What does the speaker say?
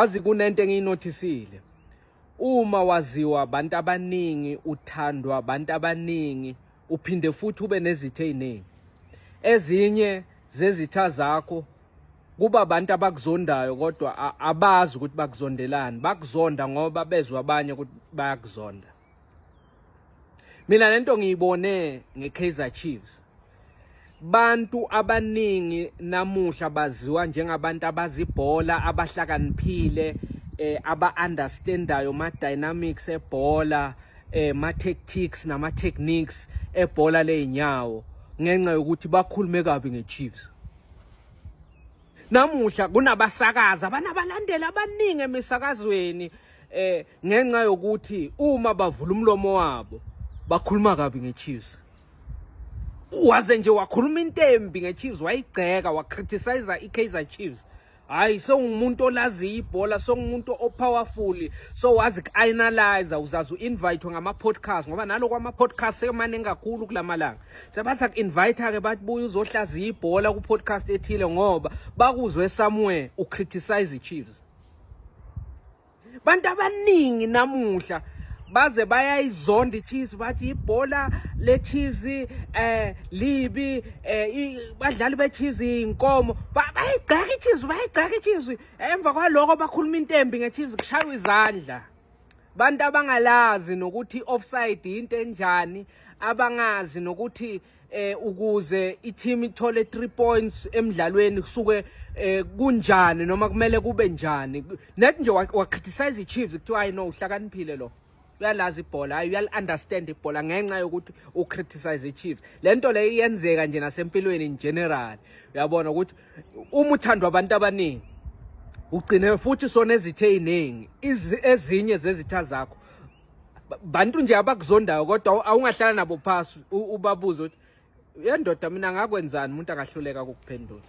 Wazi kunento engiyinothisile. Uma waziwa abantu abaningi, uthandwa abantu abaningi, uphinde futhi ube nezitha eziningi. Ezinye zezitha zakho kuba abantu abakuzondayo kodwa abazi ukuthi bakuzondelani bakuzonda ngoba bezwa abanye ukuthi bayakuzonda mina lento ngiyibone ngeKaizer Chiefs bantu abaningi namuhla baziwa njengabantu abazibhola abahlakaniphile eh aba-understandayo ma-dynamics ebhola eh ma-tactics nama-techniques ebhola ley'nyawo ngenxa yokuthi bakhulume kabi nge-chiefs namuhla kunabasakazi abanabalandeli abaningi emisakazweni eh ngenxa yokuthi uma bavula umlomo wabo bakhuluma kabi ngeChiefs waze nje wakhuluma into embi ngeChiefs wayigceka wacriticize iKaizer Chiefs hayi sewumuntu olaziyo ibhola sewumuntu opowerful so wazi ku-analyze uzazi u-invitwe ngama-podcast ngoba naloko ama-podcast semaningi kakhulu kula malanga sebathi aku-invite-ke bathi buye uzohlaziya ibhola ku-podcast ethile ngoba bakuzwe somewhere ucriticize i-chiefs bantu abaningi namuhla baze bayayizonda iChiefs bathi ibhola leChiefs eh libi eh badlali beChiefs inkomo bayigcaka iChiefs bayigcaka iChiefs emva kwaloko bakhuluma intembi ngeChiefs kushaywa izandla bantu abangalazi nokuthi offside into enjani abangazi nokuthi eh ukuze i-team ithole 3 points emidlalweni kusuke eh kunjani noma kumele kube njani net nje wacriticize i-Chiefs kuthiwa hayi no uhlakaniphile lo uyalazi ibhola hayi uyali-understand ibhola ngenxa yokuthi ucriticize i-chiefs le nto leyo iyenzeka nje nasempilweni in general uyabona ukuthi uma uthandwa abantu abaningi ugcine futhi sonezithe ey'ningi ezinye zezitha zakho bantu nje abakuzondayo kodwa awungahlala nabo phasi ubabuze ukuthi yendoda mina ngakwenzani umuntu angahluleka ukukuphendula